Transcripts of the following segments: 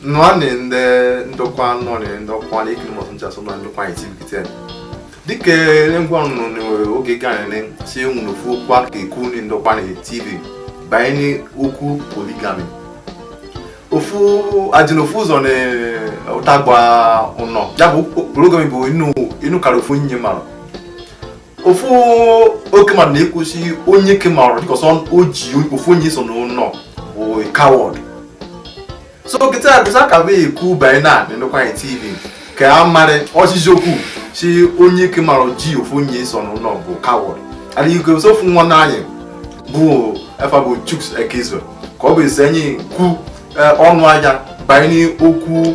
nwanne ndị ndokwa nọrị ndokwa na ikiri mọsụ nchasụ na ndokwa anyị tv kịta dịka ngwa nọ n'oge ganene si enwere ofu okwu aka ekwu ndị ndokwa na tv banyere okwu polygamy ofu a dị na ofu ụzọ na ụtagba ụnọ ya bụ polygamy bụ inu karịa ofu nye marụ ofu oke marụ na-ekwu si onyeke marụ because o ji ofu onye so n'ụnọ bụ coward so kịta bụsa ka bụ ekwu banye n'ụkwụanị tv ka a marị oshishi okwu si onyeke marụ ji ofu onye so n'ụnọ bụ coward adịghị ike so ofu nwa na anyị bụ efa bụ chuks ekizo ka ọ bụ esi anyị kwu ọnụ anya banye n'okwu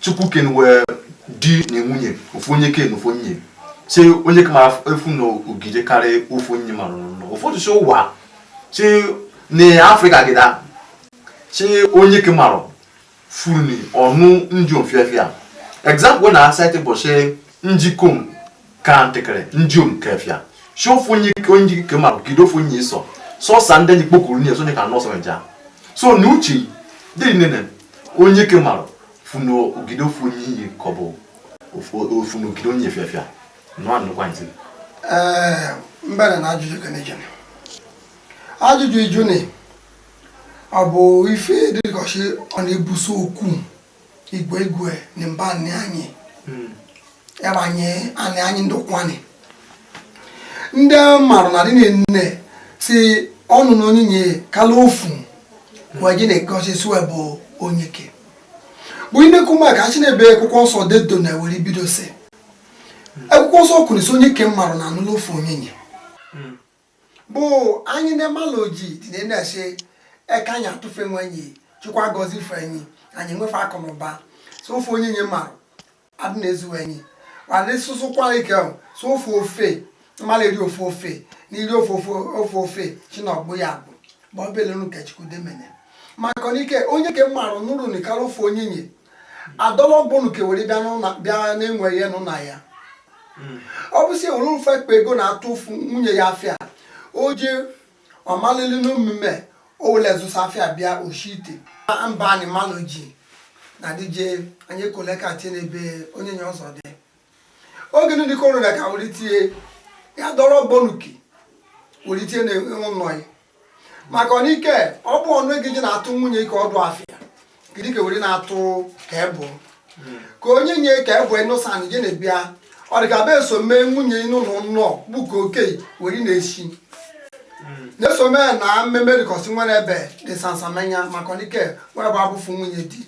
chukwu kene wee di na nwunye ofu onyeke na ofu onye si onyeke marụ efu na o gide karịa ofu onye marụ nọ ụfọdụ si ụwa si na africa gịda si onyeke marụ furu ni ọ nụ njiom fịafịa example na-cite bụ si njikom ka ntịkịrị njiom ke fịa so ofu onyeke onyeke ma gide ofu onye sọ sọsa ndị anyị kpokuru nye sonye ka nọ ọsụ nja so na uche dị nene onyeke marụ funu o gide ofu onyinye ka ọ bụ ofu na o gide onye fịa fịa nọ anụkwa ntị ee mbere na ajụjụ kenejene ajụjụ ijuni ọ bụ ife dịrịkọchi ọ na-ebuso okwu igwe igwe na mba anị anyị hmm. ya bụ anyị anị anyị ndị ụkwụanị ndị marụ na dị nene si ọ nụ na onyinye kala ofu we ji na-egosi si we bụ onyeke bụ inekwu maka achị n'ebe akwụkwọ nsọ dedo na were bido si akwụkwọ nsọ kwuru si onyeke mmarụ na anụlụ ofu onyinye bụ anyị na-emalụ ji dị na na-ese eka anyị atụfe nwe enyi chukwu agọzife enyi anyị nwefe akụ na ụba so ofu onyinye mmarụ adị na-ezu enyi mana sụsụkwa ike ahụ so ofu ofe mmalụ eri ofu ofe na iri ofu ofe chi na ọgbụ ya bụ bụ ọbelenu nke chukwu demene maka na ike onyeke mmarụ nụrụ na ikara ofu onyinye adọlọgbunu ke were bịa n'ụlọ bịa n'enwe ya nụ na ya ọ bụ si o welu ife kpe ego na-atụfụ nwunye ya afịa o ji ọmalili n'omume o wele zụsa afịa bịa o shi ite mba anyị malụ ji na dije anyị koleka tie n'ebe onyinye ọzọ dị oge ndị dịka ọrịa ka were tie ya dọrọ bonuki were tie n'ụnọ ya maka ọnike ọ bụ ọnụ ego ji na-atụ nwunye ike ọdụ afịa gịdị ka were na-atụ ka ebụ ka onyenye ka ebụ ịnụsan gị na-ebịa ọ dị ka be eso mee nwunye inu na nnọọ bụ ka oke were na-esi na-eso mee na mmemme dịkọsị nwere ebe dị sansamenya maka ọnike were bụ abụfu nwunye di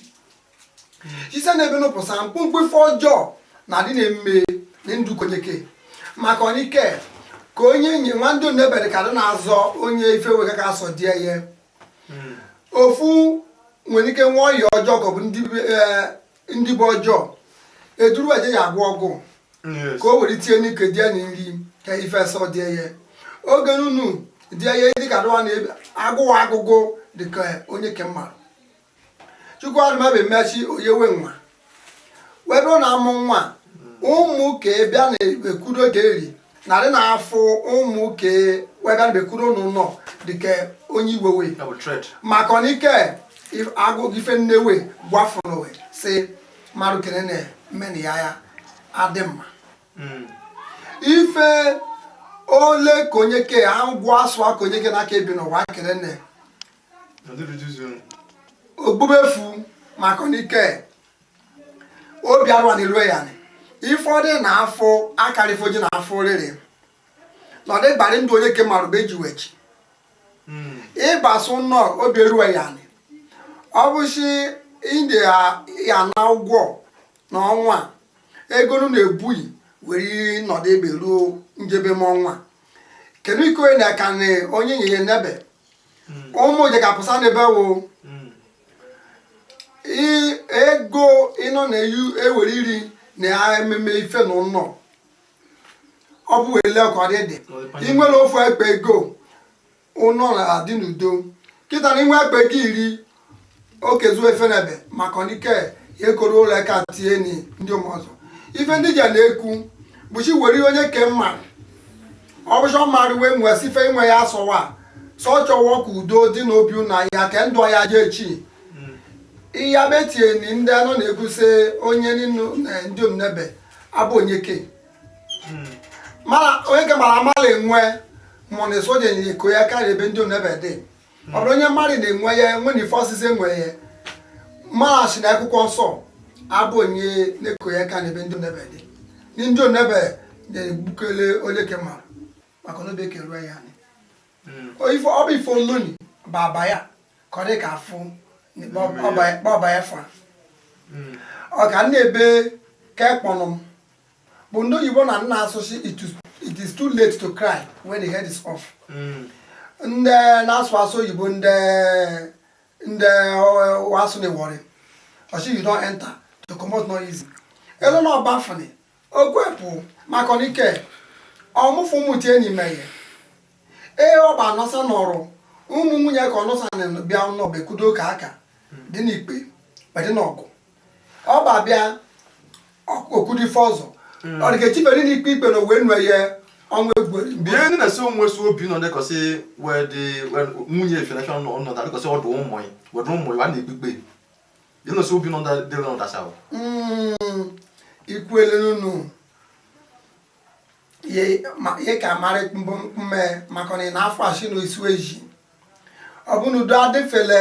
site n'ebe nụpụsa mkpụmkpụ ife ọjọọ na adị na-eme na ndụ ke onyeke maka ọnike ka onyenye nwa ndiom nebe ka dị na-azọ onye ife we ga ka asọ die ya hmm. ofu nwere ike nwa ọya ọjọọ ka ọ bụ ndị eh, bụ ọjọọ eduru eje ya agwọ ọgwụ ka o were tinye n'ike die na nri ka ife sọ die ya oge nunu die ya dịka dụwa na agụwa agụgụ dịka onyeke mmadụ chukwu arụmabe emesi oyewe nwa wee bụrụ na amụ nwa ụmụ ka bịa na-ekwudo ka eri narị na afọ ụmụ ka wee bịa na-ekwudo n'ụnọ dịka onye iwewe maka ọnike agụgụ ife nne we gwafụrụ sị mmadụ kene na mmeni ya ya adị mma hmm. ife ole ka onyeke agwụ asụ aka onyeke n'aka ebi n'ụwa kene na ogbubefu maka ọnike obi arụwa na erue ya anị ifọdụ na afọ akarịfo ji na afọ oriri na ọdịgbarị ndụ onyeke marụ ba eji wechi hmm. ịbasa ụnọ obi erue ya anị ọ bụsi ndị ya na ụgwọ na ọnwa ego nụ na-ebughị were nọdụ ebe ruo njebe m ọnwa kedu ike onye na-aka onyenye nebe ụmụ je ga-apụsa n'ebe wo I- ego ịnọ na-eyu ewere iri na eme ife n'ụnọ ọ bụ wele ka ọ dị dị ị nwere ofu ekpe ego ụnọ na-adị n'udo kịta na inwe ekpe gị iri okezu ife nebe maka ọnike ya ekoro ụlọ aka tie ni ndiom ọzọ ife ndị ja na-ekwu bụchi were onyeke mma ọ bụcha mmadụ wee nwee si ife inwe ya asọwa sọ chọwọ ka udo dị n'obi na ya ka ndụ ya je echi iya betie ni ndị anọ na-ekwu sị onye ninu na ndiom nebe abụ onyeke marụ onyeke marụ amala enwe mụ na soja nyere ko ya karịa ebe ndiom nebe dị ọ bụrụ onye mmadụ na-enwe ya enwe na ife ọsịsị enwe ya mara sị na akwụkwọ nsọ abụ onye na-eko ya ka n'ebe ndiom nebe dị ndiom nebe na-egbukele onyeke marụ maka na obi ekeruo ya anị hmm. ọ bụ ife ononi bụ aba ya ka ọ dị ka afụ ọba ya fa hmm. ọ ka na-ebe ka ekpọnụ m bụ ndị oyibo na nna asụsụ it is too late to cry when the head is off hmm. ndị na-asụ asụ oyibo ndị ndị asụ na Warri sị you don enter to comot no easy elu na ọba fani ogwepụ maka ike ọmụfụ mụti enyi meghe ee ọba anọsa nọrụ ụmụ nwunye ka ọnụsa bịa nọbekudo ka aka dị n'ikpe dị n'ọgụ ọ bụ abịa okwu dị ife ọzọ hmm. ọ dị ka echibere n'ikpe ikpe na owe nwe ya ọnwa egwuregwu mgbe ihe ndị na-esi onwe si obi nọ dịkọsị nwunye efinashọn nọ nọ dịkọsị ọdụ ụmụ ya wedụ ụmụ ya a na-ekpe ikpe ihe na-esi obi nọ dịrị nọ dasa hmm. ikwele n'ụnụ ihe ka mara mme maka na ị na-afụ asị na isi eji ọ bụ na udo adịfele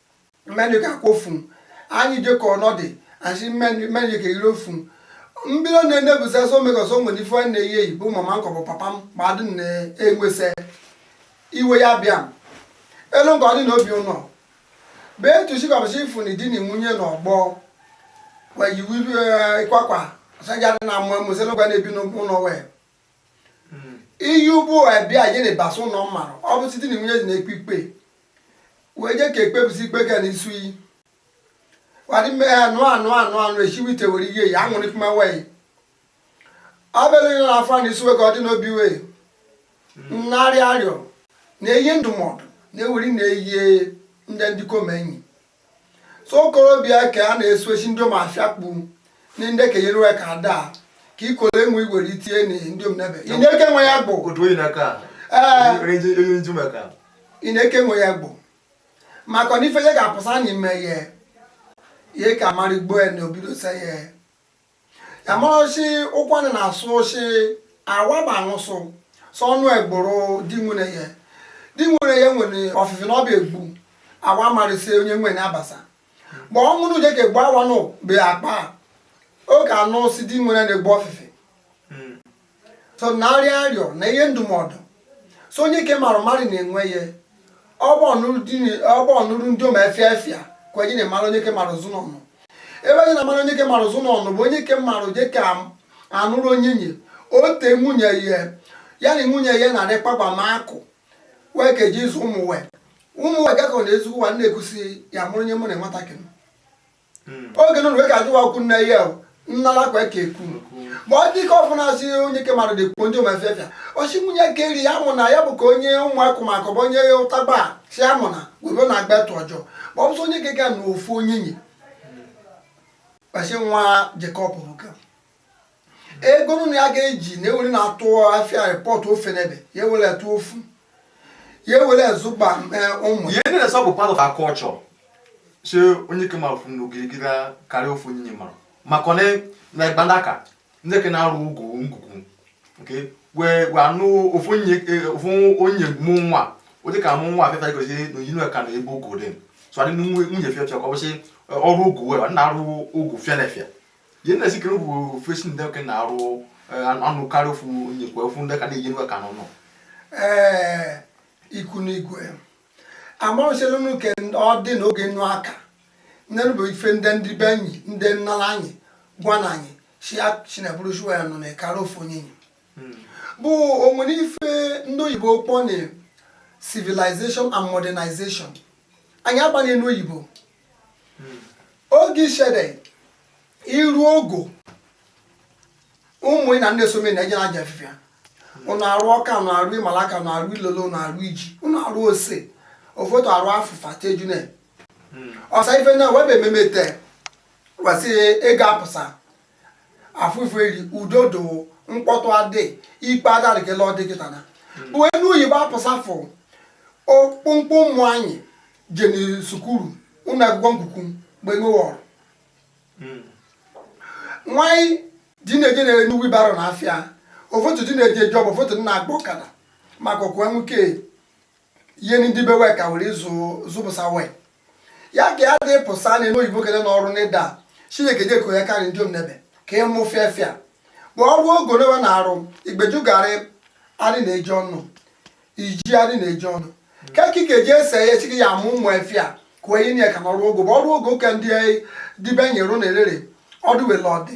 mmeni ka kwụ fun anyị jekọ ọnọdụ asị mmeni mmeni ka iro fun mbido na-enebụsa so megọsọ nwere ife nwanne ya eyi bụ mama m kọ bụ papa m ma adị m na-enwesa iwe ya bịa m elu nke ọ dị na obi ụnọ bee tusi kọbụsị ifu na di na nwunye na ọgbọ weyiwu ịkwakwa sajadị na amụ amụ sị n'ụgwa na-ebi n'ụlọ wee iyi ụgbọ wee bịa je na-ebasa ụnọ mmarụ ọ bụ site na nwunye di na-ekpe ikpe wee je ka ekpebisi ikpe ka na isu iyi wadi mme ya anụ esiwe ite were ihe ya aṅụrị kuma wee abịala ihe na-afọ na isuwe ka ọ dị n'obi wee na-arịa arịọ na-eyi ndụmọdụ na-eweri na-eyi ndị ndịkom enyi so okorobịa ka a na-esochi ndịom afịa kpu ndị ndị ka yere ka ada ka ikole enwe igwere itinye na ndịom n'ebe ị na-eke onwe ya agbụ ị na-eke onwe ya agbụ maka na ife ya ga-apụsa na ime ya ye ka mara igbo ya na obido se ya ya mara sị Ụkwụanị na-asụ ọ sị awa ba nwụsụ sọ ọnụ egboro di nwene ya di nwene ya nwene ọfịfị na ọ bịa egbu awa marị sị onye nwene abasa but ọ mụrụ je ka egbu awa nụ be akpa ọ ka anụ si di nwene na-egbu ọfịfị so na-arịa arịọ na-eyi ndụmọdụ so onyeke marụ marị na-enwe ya ọgba ọnụrụ ndịom efịa efịa ka onye na-emara onyeke marụ ụzụ n'ọnụ ebe onye na-amara onyeke marụ ụzụ n'ọnụ bụ onyeke marụ je ka anụrụ onyenye ote nwunye ya ya na nwunye ya na-adị kpagbama akụ wee ka eji azụ ụmụ wee gakọ na ezigbo ụwa na-ekwusi ya mụrụ onye mụ na nwatakịrị hmm. oge nụrụ wee ka adịwa okwu nne ya nnala kwa ka ekwu but ọ dị ike ọfụ na-asị onyeke marụ dịkwu ndịom efefia osi nwunye ka eri ya mụ na ya bụ ka onye ụmụakụ ma akọbụ onye ya ụtagba si ya mụ na webe na agba etu ọjọọ ma ọ bụsị onyeke ga na ofu onyenye kpasị nwa je kọ bụ ka ego nwunye ya ga-eji na ewere na-atụ afịa rịpọtụ ofe n'ebe ya ewere atụ ofu ya ewere zụba ụmụ ya ihe na-esa bụ part of our culture si onyeke marụ funu girigiri karịa ofu onye marụ maka na na gbandaka ndị ke na-arụ ogo ngwugwu nke wee wee anụ ofu onye ofu onye mụ nwa ụdị ka mụ nwa afefe gosi na oyi ka na ebe ogo dị so adị nwunye fịa fịa ka ọ bụsị ọrụ ogo wee na-arụ ogo fịa na fịa ihe na-esi kere bụ ofesi ndị ke na-arụ anụ karịa ofu onye kwa ofu ndị ka na-eji nwe ka nọ nọ ee ikwu n'igwe amaoselunu ke ọ dị n'oge nnu aka nne bụ ife ndị ndị be anyị ndị nnala anyị gwa na anyị si chineburu shuwa ya nọ na ekara ofu onyenye bụ onwere ife ndị oyibo kpọ na civilization and modernization anyị agbanye n'oyibo oge isede ịrụ ogo ụmụ na ndị esome na eje na aja efịfịa ụnụ arụ ọka ụnụ arụ ịmalaka ụnụ arụ ilolo ụnụ arụ iji ụnụ arụ ose ofoto arụ afụfa tejune ọsa ife na webe ememe te wesị ego apụsa afụfụ eri udo do mkpọtụ adị ikpe adarịkela ọ dị kịta na bụ enu oyibo apụsafụ okpomkpo ụmụ anyị jeni sukuru ụlọ akwụkwọ nkuku mgbe ṅụwọrọ nwanyị di na-eje na enu wibaro na afịa ofotu di na-eje jọb ofotu na-agba ọkada maka okwu enwuke ihe ndị be wee ka were ịzụ zụpụsa wee ya ka ya dị pụsa na enu oyibo kele n'ọrụ n'ịda chineke je ko ya karị ndịom nebe ka ị mụ fịa fịa ma ọrụ ogo n'ebe na-arụ ịgbajugarị adị na-eji ọnụ iji adị na-eji ọnụ ka ekike ji ese ya echi gị ya amụ ụmụ efịa ka onyenye ka n'ọrụ ogo ma ọrụ ogo ka ndị dibe nyere na elere ọdụ wele ọdị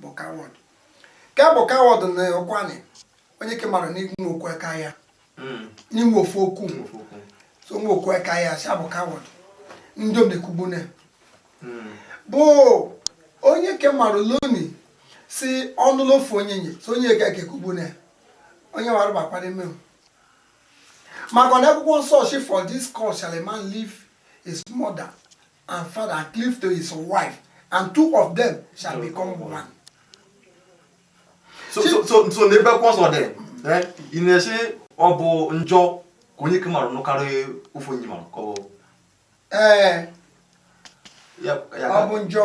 bụ coward ka bụ coward na ọkwanị onyeke marụ n'inwe okwu aka ya hmm. n'inwe ofu okwu so nwe okwu aka ya si a bụ coward ndịom ekwugbune hmm. bụ onyeke marụ loni si ọnụlụ ofu onyenye so onye ga ekekwugbune onye wara bakpara ime maka na akwụkwọ nsọ shi for this cause shall a man leave his mother and father and cleave to his wife, and two of them shall become one. So, so, so, so n'ebe akwụkwọ nsọ dị eh, ị na-esi ọ bụ njọ ka onyeke marụ nụkarị ofu onye marụ ka ọ bụ ee eh, ọ bụ njọ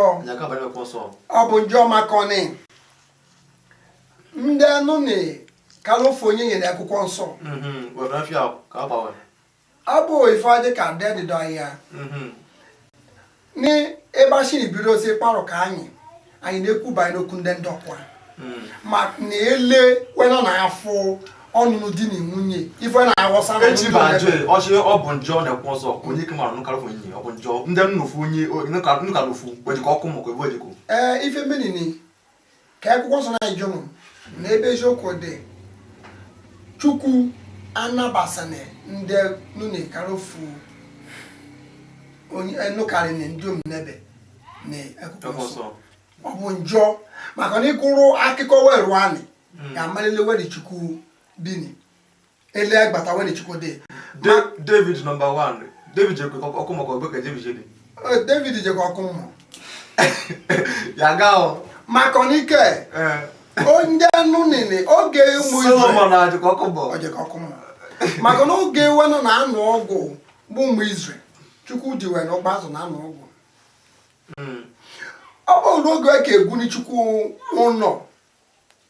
ọ bụ njọ maka ọnị ndị anụ na-ekalụ ofu onyenye n'akwụkwọ nsọ mm-hmm. abụ ife dị ka ndị dịdọ ya mhm. n'ebe a shi ebido ozi kparụ ka anyị anyị na-ekwu banyere okwu ndị ndọkwa mhm. ma na ele wena na afọ ọnụnụ di na nwunye ife na-egosa ọ bụ njọ n'akwụkwọ nsọ onye ike mara nụkarị ofu onye ọ bụ njọ ndị nụ ofu onye nụkarị ofu o jekọ ọkụ mmụọ ka ebe o jekọ ee ife menini ka akwụkwọ nsọ anyị jụrụ na ebe eziokwu dị chukwu anabasana ndị nụnụ karị ofu onye nụkarị na ndị omenebe na akwụkwọ nsọ ọ bụ njọ maka na ị gụrụ akwụkwọ weru anị ga-amalile wedi chukwu bini ele agbata wani chukwu dị david nọmba 1 david jekọ ọkụ mmụọ ka ọ bụ ka david jede david jekọ ọkụ mmụọ ya gaa maka n'ike ndị anụ nene oge ụmụ maka na oge wenụ na-anụ ọgụ bụ ụmụ izrel chukwu ji wee na-agba azụ na-anụ ọgụ hmm. ọ bụrụ n'oge ka e ga-ewuni chukwu ụnọ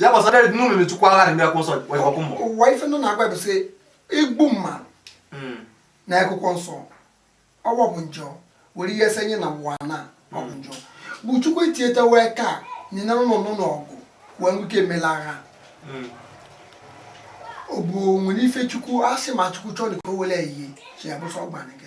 ya gbasara edi n'ụlọ na-echukwa agha na akwụkwọ nsọ ọkụ mmụọ ụwa ife nọ na-agwa bụ sị igbu mmadụ hmm. na akwụkwọ nsọ ọwa bụ njọ were ihe ese nye na ụwa na ọ bụ njọ bụ chukwu etieta wee ka nyina ụlọ nọ n'ọgụ wee nwoke emela agha hmm. ọ bụ nwere ife chukwu asị ma chukwu chọọ na ka o were ehihie sị ya pursue overtake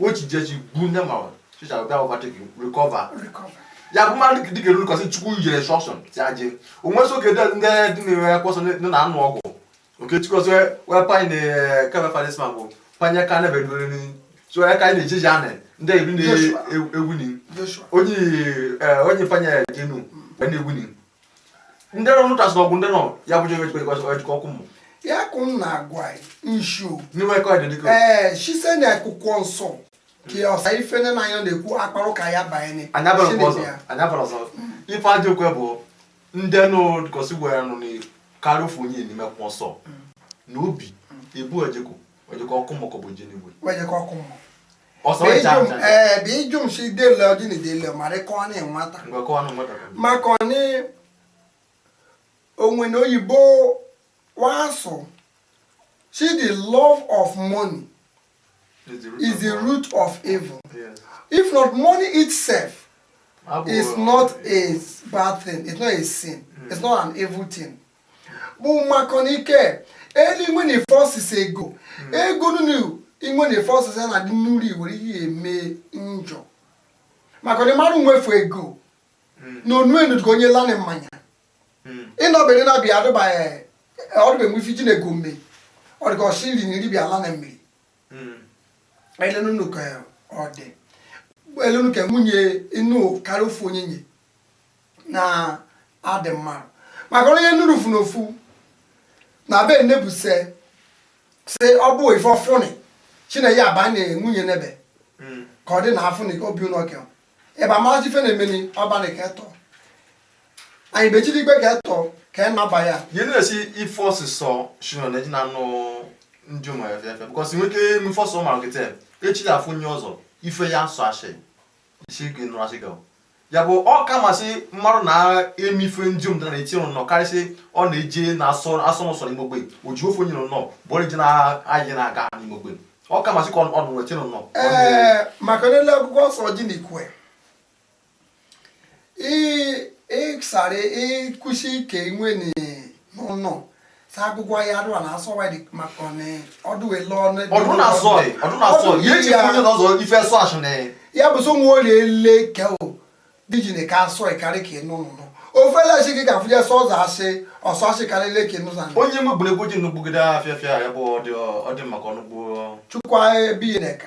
o ji jeji gbu nne ma chicha bịa overtake recover ya bụ mmadụ dị ga-eru kọsị chukwu nyere instruction si aje onwe so kedu ndị dị na akwụkwọ nsọ ndị na-anụ ọgụ oke chukwu ọsọ wee panye na kebe fadisma bụ panye ka na bedoro ni so ya ka anyị na-ejeji anị ndị eri na-egwu ni onye onye panye jenu wee na-egwu ni ndị nọ n'ụta sị na ọgụ ndị nọ ya bụ jebe jikwa o jekọ ọkụ mmụọ ya ka m na-agwa anyị nshu n'ime ka ọ dị dịka ee sise na akwụkwọ nsọ ka ya ọsa ife nne na anyị na-ekwu akparụ ka ya banye anya bara nke ọzọ anya bara ọzọ ife ajọ okwe bụ ndị nọ dịkọsị gwara nụnụ karịa ofu onye n'ime akwụkwọ nsọ na ọ bụ ebe o jekọ o jekọ ọkụ mmụọ ka ọ bụ nje n'igwe we jekọ ọkụ mmụọ bijum si dele ọjị na idele mara ka ọ na-enweta maka na o nwene oyibo wa sụ sị the love of money is the root of evil if not money itself is not a bad thing it's not a sin it's not an evil thing bụ mmakọ n'ike elu inwe na ife ọsịsa ego hmm. ego nunu inwe na ife ọsịsa na-adị n'uri were ihe eme njọ maka na marụ nwe fu ego hmm. na onu enu ka onye lani mmanya hmm. ịnọbere na bịa adịbaghị ọdụbe nwe ife ji na ego mme ọ dịka o si nri na iri bịa lani mmiri elenu ka ọ dị elenu ka nwunye ịnụ karịa ofu onyenye na adị mma maka onye nụrụ fu n'ofu na be nebuse si ọ bụ ife ọ fụnị chine ya ba na nwunye nebe hmm. ka ọ dị na afụnị obi ụnọ ke ị ba ama ife na-emeni ọ banị ke etọ anyị bechiri igbe ke etọ ka ị naba ya ihe na-esi ife ọsịsọ shino na eji na anụ ndiom ya efe efe because nwoke eme ife ọsọ ụmụ ahụ kịta echi ya afụ onye ọzọ ife ya asụ ashị ya bụ ọ ka mma sị marụ na-eme ife ndiom dị na eti nọ karị sị ọ na-eje na asọ n'ụsọ n'ime ogbe o ji ofu onye nọ bụ onye ji na-ayị na-aga n'ime ogbe ọ ka mma sị ka ọ nọ na eti nọ maka na ele akwụkwọ nsọ ji na ikwe ịsara ikwusi ike nwe n'ụnọ sagụgwa ya arụ na asọ wadi maka ọdụ ele ọnụ ọdụ na asọ ọdụ na asọ ya eji onye na ọzọ ife asọ asụ na ya bụ so nwa olie le ke o dijine ka asọ ịkarị ka ịnụ nụ ofele asị gị ga-afụ ya sọ ọzọ asị ọsọ asị karị le ka ịnụ sa onye mụ gburu egwu ji nnugbugide afịa afịa ya bụ ọdị maka ọnụgbu chukwa ebighị na ka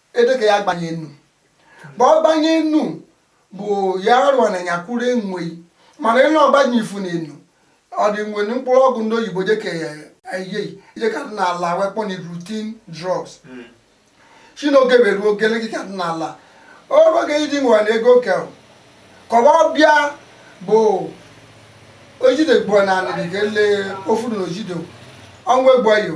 edeke ya gbanye enu bụ ọ gbanye enu bụ ya rụọ na ya kwuru enwe mana ịnụ ọ gbanye ifu na enu ọ dị nwe mkpụrụ ọgwụ ndị oyibo dịka anyị je ka dị na-ala we kpọ na routine drugs hmm. si n'oge were ruo ogele gị ka dị na-ala o ru oge iji nwere na ego ke korobịa bụ o jide gbuo na anịrị ga ele ofu na o jide onwe egbuo yo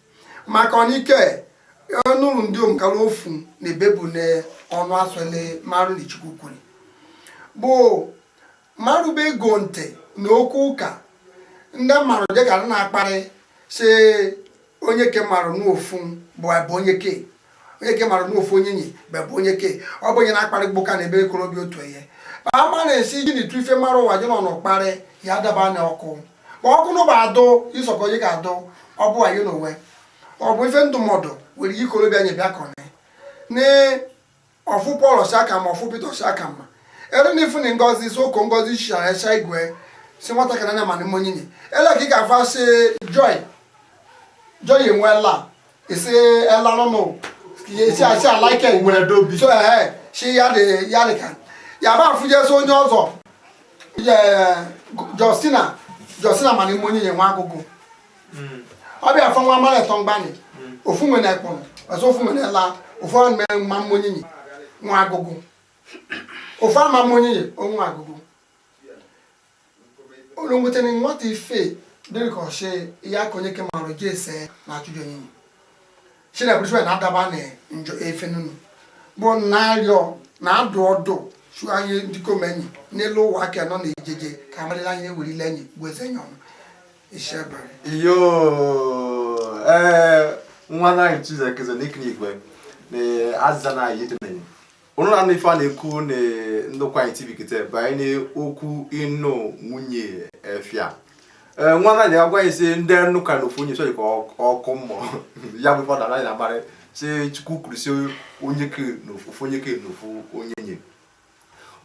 maka ọnike ọ nụrụ ndiom kara ofu na ebe bu na ọnụ asọle marụ na chukwu kwuru bụ marụ be ego ntị na okwu ụka ndị mmarụ dịka na-akparị sị onyeke marụ n'ofu bụ abụ onyeke onyeke mara n'ofu onyenye bebụ onyeke ọ bụ onye na-akparị gbu ka na-eme ikorobịa otu ihe ma ama na-esi ji na itu ife mara ụwa ji na ọnụ kparị ya daba na ọkụ ma ọkụ n'ụba adụ isọkọ onye ga-adụ ọ bụ anyị n'onwe ọ bụ ife ndụmọdụ were ikorobịa nye bịa kọne na ọ fụ paul shi ka mma ọ fụ peter ọ shi ka mma ere na ifu na ngozi isi ụkọ ngozi shara sha igwe si nwatakịrị anya ma na ụmụ onyinye ele ka ị ga-afụ asị joy joy enwe la isi ela nụnụ si asị alaike nwere dobi so ee shi ya dị ya dị ka ya ba afụ jesi onye ọzọ justina justina ma na ụmụ onyinye nwe agụgụ ọ bịa afọ nwa mara etọ mgbanị ofu nwe na ekpọrọ ọzọ ofu nwe na ela ofu ahụ mere ma ụmụ onyinye nwe agụgụ ofu ama ụmụ onyinye nwe agụgụ olu nweta na nwata ife dịrị ka ọchị ya ka onyeke marụ ji ese na achụjụ onyinye sinabrisue na adaba na njọ ife nunu bụ na arịọ na adụ ọdụ si anyị ndịkom enyi n'elu ụwa aka nọ na ejeje ka amarịla anyị ewerila enyi bụ eze enyi ọnụ isebere iyo ee nwa naghị chizekeze n'ikiri igwe na azịza na anyị itenenyi ụnụ na ife a na-ekwu na ndokwa anyị tv kịta banyere okwu ịnụ nwunye efia ee nwa na ya agwa si ndị nnụ ka na ofu onye chọrọ ka ọ- ọkụ mmụọ ya bụ fọdụ anaghị na-amarị si chukwu kwuru si onyeke na ofu ofu onyeke na ofu onyenye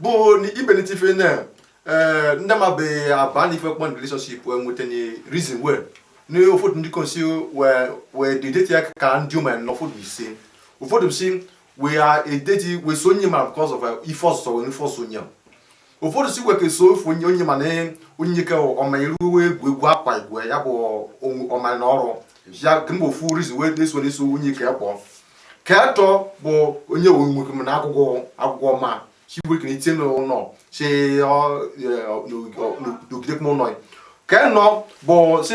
bụ na ibelite ife na ee ndị mabeghị aba na ife kpọ na relationship wee nweta na reason wee na ụfọdụ ndịkom si wee wee dị date ya ka ndịom ya na ụfọdụ si ụfọdụ si we are a date we so onye mara because of uh, ife ọsụsọ wee ife ọsụ onye ụfọdụ si we ke so ofu onye onye mana onyeke ọ ma iruwe egwu egwu akwa igwe ya bụ ọma na ọrụ ya kemgbe ofu reason wee na-eso na-eso onyeke kpọọ ka atọ bụ onye owe nwoke m na akwụkwọ akwụkwọ ma si we ke na itinye n'ụlọ si nọgidekwa ụlọ ka nọ bụ si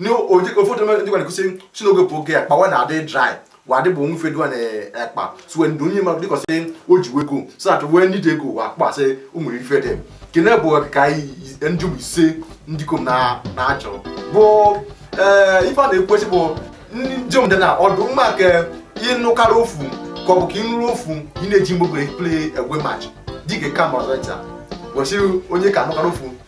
ụfọdụ ndị gwara kwu sị si n'oge bụ oge akpa wa na-adị dry wa dị bụ nwe ife dịwa na akpa suwe ndụ onye mmadụ because o ji nwe ego so that wee ndị dị ego wa akpa sị ụmụ ife dị kene bụ ka ndị bụ ise ndịkom na-achọ bụ eh, ife a na-ekwu sị bụ ndịom dị na ọdụ mma nke ịnụkarị ofu ka ọ bụ ka ịnụrụ ofu ị na-eji mgbogere play away match dịka kama ọzọ nta gosi onyeke anụkarị ofu